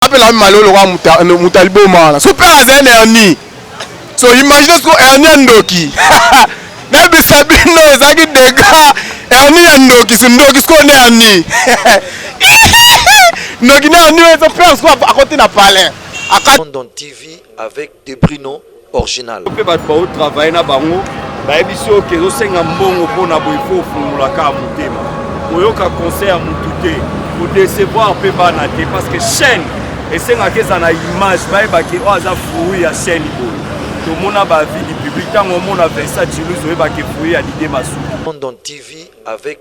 apela malo lokola moto aliboma wana so mpe azali na hernie so imagine siko hernie ya ndoki nayebisa bino ezalaki dega hernie ya ndoki so ndoki sikoyo na hernie ndoki na hernie ezo pere sikoyo akoti na palais London TV avec de Bruno original. Pe bato bao travailler na bango bayebisi oyo kezo senga mbongo mpo na boye fo ofungola kaka motema koyoka conseil ya mutu te kodecevoir mpe bana te parce que chaîne esengaka eza na image bayeba ke oyo aza fruit ya chaîne boye tomona bavie du public ntango omona vincent chilus oyeba ke fruit ya dide masuki London TV avec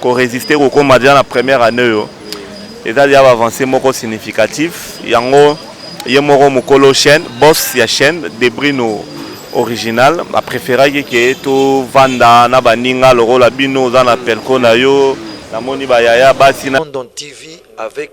ko resister kokoma deja na première annee oyo eza deja ba avancee moko significatif yango ye moko mokolo chaîne boss ya chaîne debrino original ba preferaki ke tovanda na baninga lokola bino oza na pelco na yo namoni ba yaya basi na London TV avec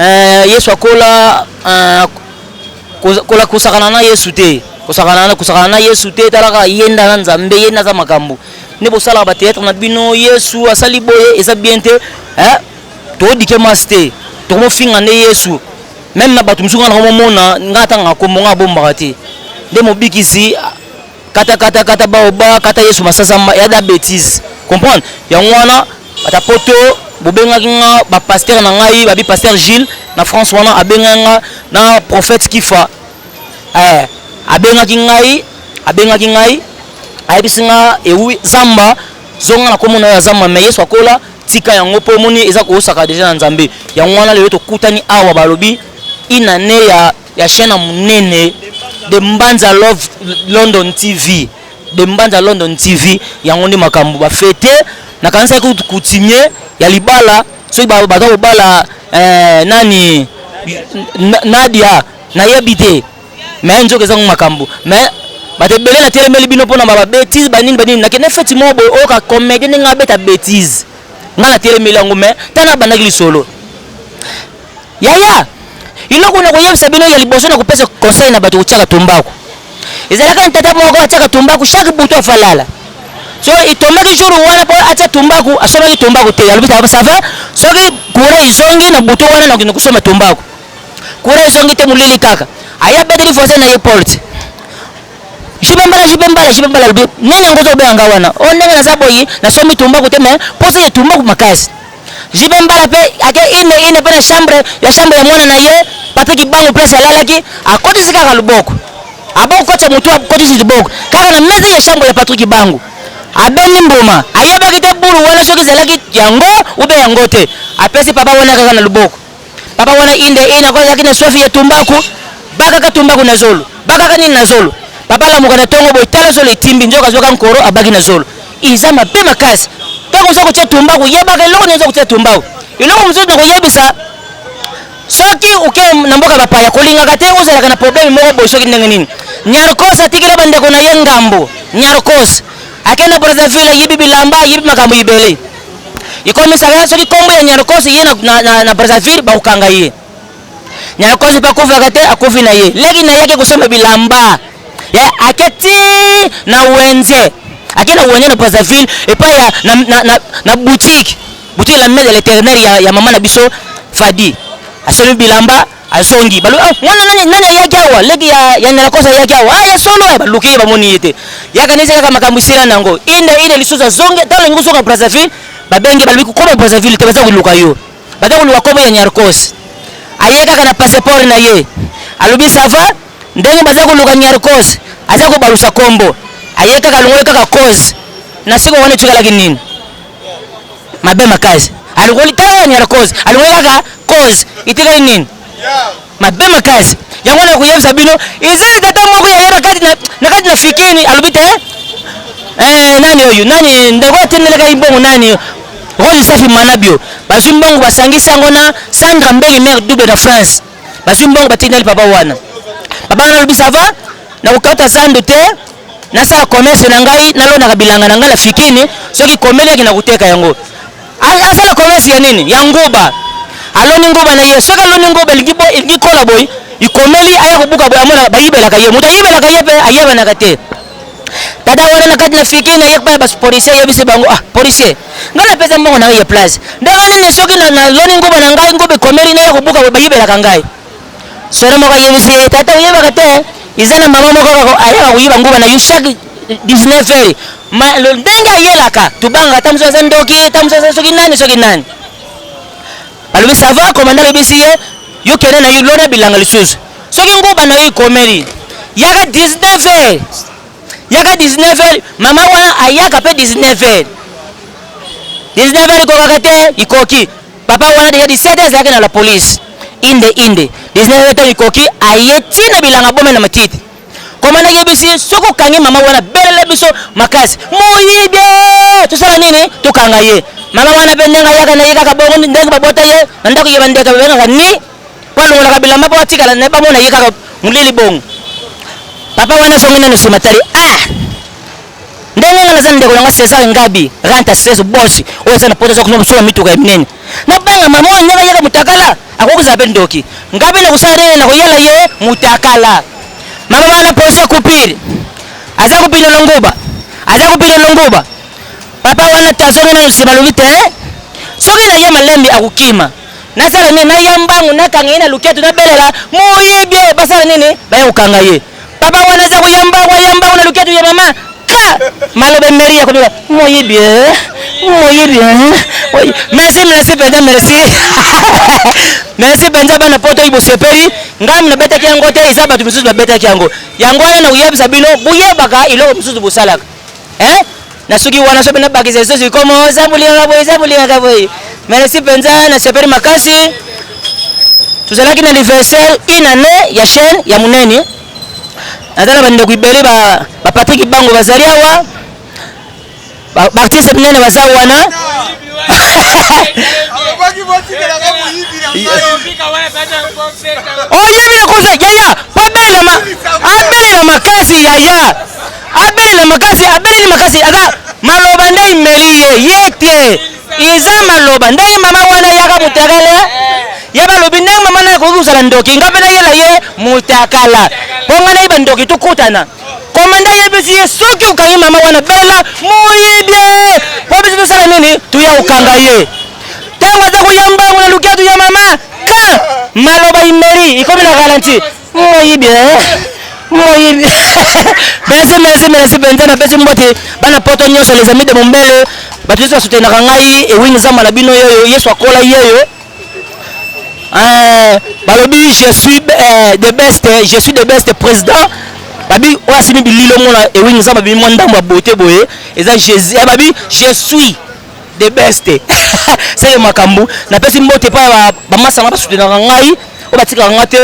Eh, Yesu akola eh, kola kosakana na Yesu te kosakana na kosakana na Yesu te talaka yenda na Nzambe yenda za makambo ne bosalaka ba théâtre na bino Yesu asali boye eza bien te eh todike mas te tokomofinga nde Yesu meme na bato mosuku nga nakomomona nga atanga kombo nga abombaka te nde mobikisi kata kata kata bao ba kata yesu masasa ma ya da bêtise comprendre yango wana ata poto bobengaki nga ba pasteur na ngai babi pasteur Gilles na France wana abenga nga na prophète Kifa eh abengaki ngai abengaki ngai ayebisi nga ewi eh zamba zonga na komona ya zamba mais yesu akola tika yango po omoni eza kosaka deja na nzambe yango wana lelo tokutani awa balobi inane ya Ya chien na munene de mbanza love london tv de mbanza london tv yango nde makambo ba fete nakanisaki kutu coutumier ya libala soki ba- baza kobala eh, nani Na- nadia nayebi te me nzoka eza ngo makambo me bato ebele natelemeli bino mpona babetise banini banini nakende feti moko boye oyoka comédie ndenge abeta betise ngai natelemeli yango me ntango abandaki lisolo Yaya, iloko na koyebisa bino ya liboso na kopesa conseil na bato kotiaka tumbaku. Ezalaka na tata moko atiaka tumbaku chaque butu afalala. So itombaki jour wana po atia tumbaku, asombaki tumbaku te. Alobi tata ça va, soki kura ezongi na butu wana na kende kosomba tumbaku. Kura ezongi te molili kaka. Aya beteli voisin na ye porte. Jibe mbala jibe mbala jibe mbala alobi nani yango ozo benga wana? Oh ndenge naza boyi, nasombi tumbaku te mais posa ya tumbaku makasi. JB Mbala pe ake ine ine pe na chambre ya chambre ya mwana na ye Papi Kibangu place alalaki akotisi kaka loboko aboko kotisa motu akotisi liboko kaka na mesa ya chambre ya Patrick Kibangu abendi mbuma ayebaki te bulu wana soki ezalaki yango ube yango te apesi papa wana kaka na loboko Papa wana inde ina ko yaki na soif ya tumbaku bakaka tumbaku na zolo bakaka nini na zolo papa lamuka na tongo boye tala zolo etimbi nzoka azuaka nkoro abaki na zolo eza mabe makasi ntango oza kotia tumbaku yebaka eloko nini oza kotia tumbaku eloko mosusu na koyebisa soki oke na mboka bapaya kolingaka te ozalaka na probleme moko boye soki ndenge nini nyarkos atikela bandeko na ye ngambo nyarkos akenda brazzaville ayibi bilamba ayibi makambo ibele ikomisa kaka soki kombo ya nyarkos ye na, na, na, na brazzaville bakokanga ye nyarkos mpe akufaka te akufi na ye leki na ye ake kosomba bilamba ya ake ti na wenze ake na wenze na brazzaville epai ya na, na, na, na boutique boutique la main de l'éternel ya, ya mama na biso fadi asombi bilamba azongi balobi ah, mwana nani nani ayaki awa leki ya ya nelakosa ayaki awa ah ya solo ah, baluki ye bamoni ye te yaka nesi kaka makambo esila na yango inde inde lisusu azongi ntango olingi kozonga brazzaville babenge balobi kokoma brazzaville te baza koluka yo baza koluka kobo ya nyarkos aye kaka na passeport na ye alobi sava ndenge baza koluka nyarkos aza kobalusa kombo aye kaka alongoli kaka cause na siko wana etikalaki nini Mabe makasi. Alukoli tala ni cause. Alukoli kaka cause. Itikali nini? Mabe makasi. Yango na kuyebisa bino ezali tata moko ya yeba kati na na kati na fikini alobi te eh nani oyo nani ndeko atendeleka ibongo nani Rose Safi Manabio bazwi mbongo basangisi yango na Sandra Mbeli mère double na France bazwi mbongo batiki na lipapa wana papa wana alobi sava nakokauta zando te nasala commerce na ngai nalonaka bilanga na ngai na fikini soki komeli yaki nakoteka yango asala commerce ya nini ya nguba aloni nguba na ye soki aloni nguba elingi kola boye ikomeli aya kobuka boye amona bayibelaka ye moto ayibelaka ye mpe ayebanaka te tata wana na kati na fiki na ye epai ya bapolisier eyebisi bango ah policier ngai napesa mbongo na ngai ya place ndenge nini soki naloni nguba na ngai nguba ekomeli naya kobuka boye bayibelaka ngai sore moko ayebisi ye tata oyebaka te eza na mama moko ayaka koyiba nguba na yo chaque 19 heures ndenge ayelaka tobangaka ta mosusu aza ndoki ta mosusu aza soki nani soki nani balobi sava komanda ayebisi ye yo kende na yo lona bilanga lisusu soki nguba na yo ikomeli yaka 19 heures yaka 19 heures mama wana ayaka mpe 19 heures 19 heures ikokaka te ikoki papa wana deja 17 heures azalaki na la police inde inde 19 heures ntango ikoki aye ti na bilanga bome na matiti koma nayebisi soki okangi mama wana belela biso makasi moyibi tosala nini tokanga ye mama wana mpe ndenge ayaka na ye kaka bongo ndenge babota ye na ndako ye bandeka babengaka ni po alongolaka bilamba po atikala na ye bamona ye kaka molili bongo papa wana azongi nano nsima tali ah ndenge nga naza ndeko nanga cesar ngabi ranta stress bosi oyo eza na poto azakosola mituka ya minene nabanga mama oyo ndenge ayaka motakala akoki kozala mpe ndoki ngabi nakosala nini nakoyela ye motakala mama wana poso kupiri aza kopino na nguba aza kopino na nguba papa wana tazongi nano nsima alobi te soki na ye malembi akokima nasala nini naya mbangu nakanga ye na luketu nabelela moyibi oyo basala nini baya kokanga ye papa wana aza koya mbangu aya mbangu na luketu ya mama ka maloba emeri ya kobika moyibi eh? moyibi eh? merci merci mpenza merci merci mpenza bana poto oyo bosepeli ngambo nabetaki yango te eza bato mosusu babetaki yango yango wana nakoyebisa bino boyebaka eloko mosusu bosalaka eh na suki wana sope na bakisa lisusu ikomo oh, eza bolingaka boye eza bolingaka boye merci mpenza na sepeli makasi tozalaki na anniversaire une année ya chaîne ya monene naza na bandeko ebele bapatrik bango bazali awa baartiste minene baza wana oyebi nakosa yaya po abelelama abelelama kasi yaya abelela makasi abeleli makasi aza maloba nde imeli ye ye te eza maloba ndenge mama wana yaka mutakala ya balobi ndenge mama naye akoki kozala ndoki nga mpe nayela ye mutakala mpo nga naye bandoki tokutana komanda ayebisi ye soki okangi mama wana bela moyibi mpo biso tosala nini toya kokanga ye ntango aza koya mbangu na lukatu ya mama ka maloba imeli ikomi na ralentir moyibi moyibi merci merci merci mpenza napesi mbote bana poto nyonso les amis de mombele bato nyonso basutenaka ngai ewini zamba na bino yeyo yesu akola yeyo eh, balobi je suis eh, de best je suis de best président babi oyo asimi bililo mona ewini zamba bimi mwa ndambo ya bote boye eza jésus eh, babi je suis the best seke makambo napesi mbote epai ya bamasa na basutenaka ngai oyo batikaka ngai te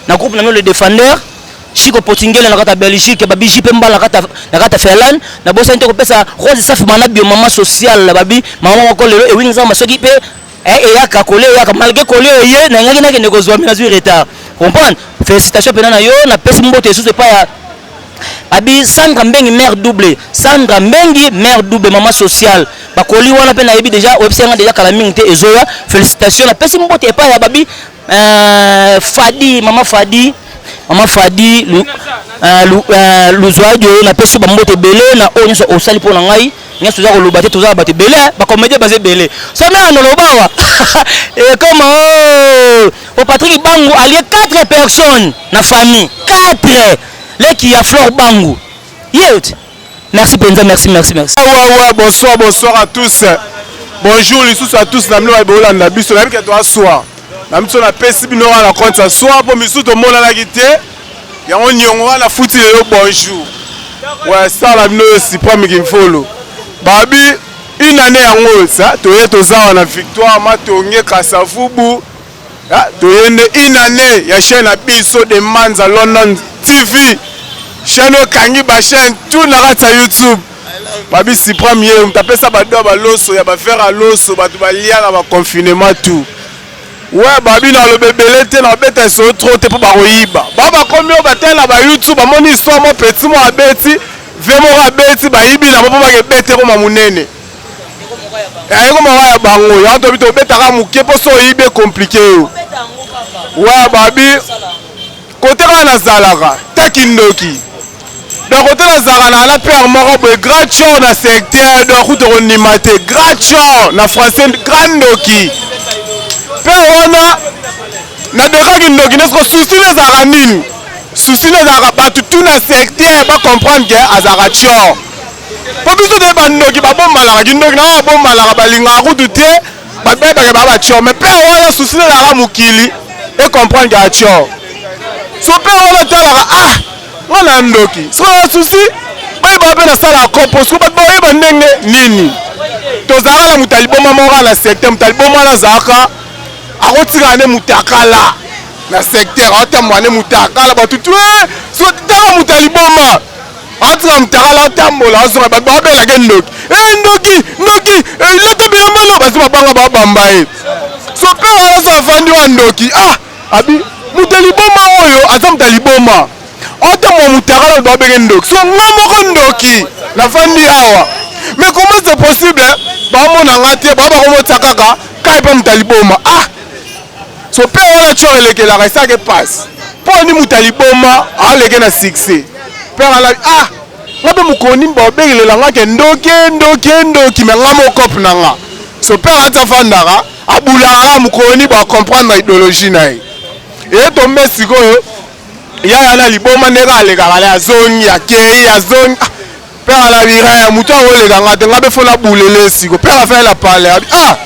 na groupe na no le defendeur chiko potingele na kata belgique babiji mpe mbala na kata finlande nabosani te kopesa rose safi bana biomama social babi mama moko lelo ewingi nzamba soki mpe Eh, eyaka kole eyaka malgré kole eye nangaki nakende kozwa me nazwi retard comprendre félicitation mpena na yo napesi mboto esusu epai ya abi sandra mbengi mare double sandra mbengi mare double mama sociale bakoli wana mpe nayebi deja oyebisi yanga deja kala mingi te ezoya félicitation napesi mboto epai ya babi euh, fadi mama fadi mama fadi euh, euh, luzwadio napesi bamboto ebele na oyo nyonso osali mpo na ngai nyonso toza koloba te toza na bato ebele eh, bacomédien baza ebele somi ya noloba awa ekoma o oh, oh, patrik bangu alie 4 personnes na famille 4 leki ya flore bangu yet merci mpenza merci merci merci wawa ah, bonsoir bonsoir à tous bonjour lisusu à tous na bino baye bolanda biso nayebi ke toaswa na biso napesi bino wana na compte ya swa mpo misusu tomonanaki te Yango niongo wana afuti lelo bonjour. Ouais, sala bino yo Supreme Kimfolo. Babi une année yango sa toye tozawa na victoire matonge kasavubu ah, toye nde une année ya chaîne na biso de manza london tv chaîne oyo ekangi bachaîne tout na kati ya youtube babi supreme ye moto apesa bado ya baloso ya bavere ya loso bato balia na baconfinement tout Ouais babino aloba ebele te na beta lisolo trop te mpo bakoyiba ba bakomi oyo batela ba youtube bamoni histoire mo petit mo abeti vie moko abeti bayibi na mpo bake bete ekoma monene eh, ekoma wa ya bango yango tobi tobetaka moke mpo so oyibi ekomplike yo ouais babi Kote kaka nazalaka ta kindoki donc kote nazalaka na na père moko boye grand chor na secteur donc kutu kondima te grand chor na français grand ndoki père wana nadekaki ndoki nde soko susi nde ezalaka nini susi nde ezalaka bato tu na secteur bacomprendre ke azalaka chor mpo biso toyebi bandoki babombanaka kindoki na babombanaka balingaka kutu te babebaka ba bachor me mpe wana susi nalaka mokili ekomprendre ya chor so mpe wana talaka ah nga na ndoki sikoyo susi bayebaka mpe nasalaka kopo siko bato bayeba ndenge nini tozalaka na moto aliboma moko na secteur moto aliboma wana azalaka akotikala nde motakala na secteur aotambwa nde motakala bato tu eh, siko tala moto aliboma atika mutakala atambola azonga bato babela ke ndoki e eh, ndoki ndoki eh, lata bilamba no bazi babanga babamba ye sope azo afandi wa ndoki ah abi moto liboma oyo aza moto liboma otambola mutakala bato babeke ndoki so nga moko ndoki nafandi awa mais comment c'est possible bamona nga te baa bakomotisa kaka kai mpe moto liboma ah so pe wana cor elekelaka esake pasi mpo ni moto aliboma aleke na succès père alabi ah nga mpe mokoni baobekelela nga ke ndoki ndoki ndoki me nga mokope na nga so père ati afandaka abulaka nga mokoni bacomprendre idéologie na ye eye tombe sikoyo yaya na liboma ndenge alekaka na azongi akei azongi ah, Père la viraya mutu akoleka nga te nga be fona bulele siko père la fayela pale abi ah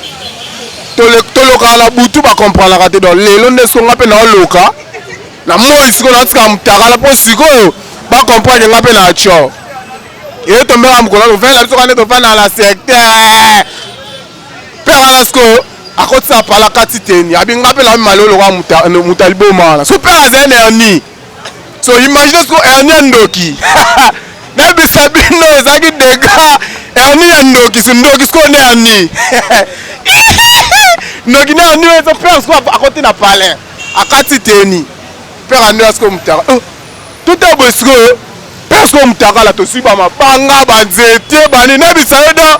tolokaka na butu bakompranaka te don lelo nde siko nga mpe naoloka na moi sikoyo naotika mutakala mpo sikoyo bakomprendre nga mpe na co eye tombeka mokolo tofanda biso kande tofanda na secteur mpe wana sikoyo akotisa pala kati teni abi nga mpe naomi maloloka mutaliboma wana so mpe azali na yani so imagine siko erni ya ndoki nayebisa bino ezalaki dega erni ya ndoki so ndoki sikoyo nde erni ndoki na erni ezo pere sikoyo akoti na palais akati teni pere ande sikoyo mutaka oh, tuta boye sikoyo pere sikoyo mutakala tosui bamabanga banzete bani nayebisa yo do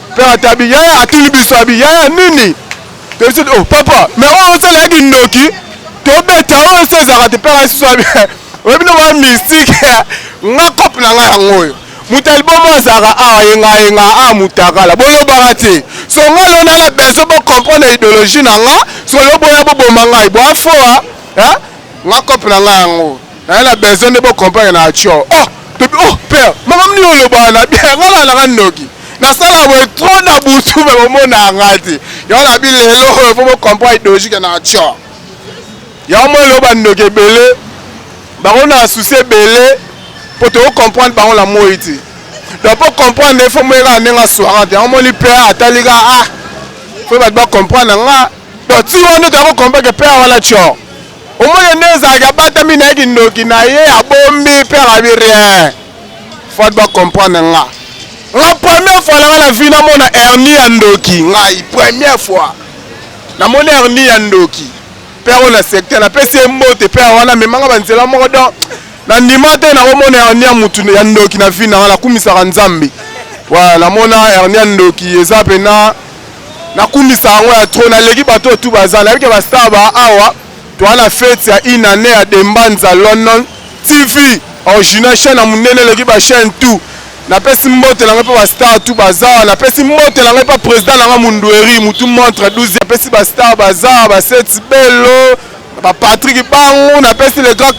Père Atabi yaya atuni biso abi yaya nini toyebi oh papa mais oyo osala ya kindoki tobeta oyo se ezalaka te père asusu abi oyebi no ba mystique nga cope na nga yango oyo moto ya libomo azalaka awa yengayenga a mutakala boyobaka te so nga leo nanga besoin bocomprendre idéologie na nga so leo boya boboma ngai boafoa nga cope na nga yango naye na besoin nde bo comprendre na atsho oh tobi oh père makambo nini olobaka na bien nga na nanga ndoki nasala boye trop na butu me bomonaka nga te yango na bi lelo oyo fo bo comprendre idologique na atsho yango mo eloba ndoki ebele bango na souci ebele mpo toko comprendre bango na moi te donc mpo comprendre efo moyekaka ndenge aswaka te yango moni père atali ka ah fo bato ba comprendre nga donc ti wana toyako comprendre ke père wana tsho Omoni nde ezalaki abatami na ye kindoki na ye abombi mpe alabi rien fat ba comprendre nga nga première fois nanga na vie namona hernie ya ndoki ngai première fois namoni hernie ya ndoki mpe yango na secteur napesi ye mbote mpe wana amemanga banzela moko donc nandima te nakomona hernie ya motu ya ndoki na vie nanga nakumisaka nzambe voilà namona hernie ya ndoki eza mpena nakumisa yango ya trop naleki bato oyo tu baza nayebi ke bastar ba awa toa na fete ya une année ya dembanza london tv original chaine ya monene eleki bachaine tout napesi mbote na ngai mpe bastar tu baza awa napesi mbote na ngai mpe président na ngai mundueri mutu montre 12 apesi bastar baza awa baseti belo bapatriki bango napesi le grand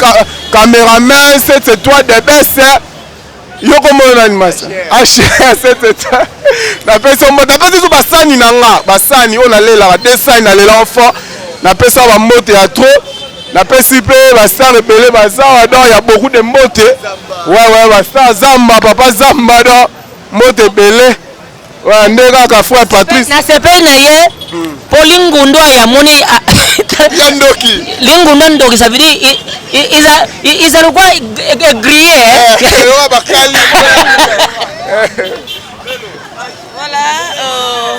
cameraman sete toi debese Yo kombo yo nani masa? H7 napesi yo mbote, napesi biso basani na nga, basani oyo nalelaka te, sani nalela enfant, napesi yo bambote ya trop, napesi mpe bastar ebele bazawa don ya beaucoup de mbote, wewe bastar zamba, papa zamba don mbote ebele Ouais, nde kaka frère Patrice. Na sepeli na ye hmm. po lingundu ya moni ah, ya ndoki. Lingundu ndoki ça veut dire iza iza lokwa grillé. Hein? Eh, eh, oh, bakali. Voilà. Euh...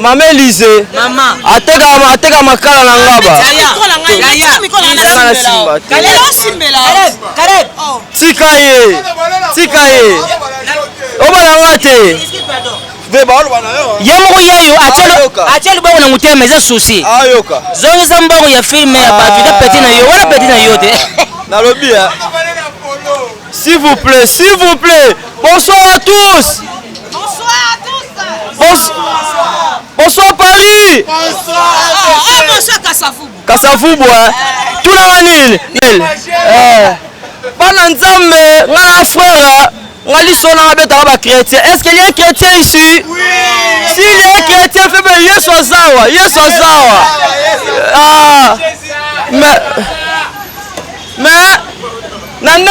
mama elise ateka makala na ngaba tika ye tika ye obala nga te ye moko yayo atia liboko na motema eza susi zongisa mbongo ya filme ya bato eza peti na yo wana peti na yo te nalobi s'il vous plaît s'il vous plaît bonsoir à tous bonsoir, bonsoir Paris bonsoir, bonsoir. Kasafubwa tuna nga nini mel eh. bana nzambe nga frère nga liso nanga betaka ba chrétien est ce que ye chrétien ici si ye chrétien febe yesu azawa yesu azawa ah. mais mais na nde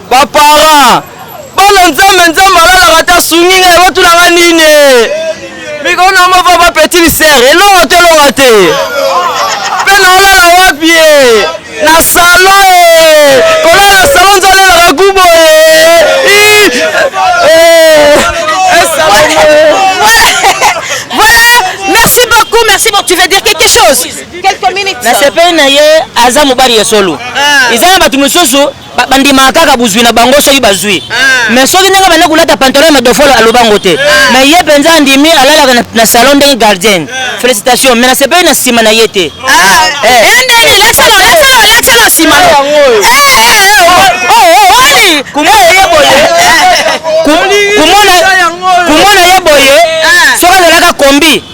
Ba parents bana nzambe nzambe alalaka ta sungi ngai batunanga nini mikolo na mova ba petit misere elonga to elonga te mpe naolala wapi ye na salo e kolala na salo nzalelaka gubo e voilà merci beaucoup merci beaucoup tu veux dire quelque chose quelques minutes nasepeli na ye aza mobali ya solo eza na bato mosusu ba, bandimaka kaka buzwi na bango soki bazwi ah. mais soki ndenge banda kolata pantalon ya madofolo alobango te ah. mais ye mpenza andimi alalaka na, na salon ndenge gardienne ah. félicitation mais nasepeli na nsima na ye te kumona ye boye soki azalaka kombi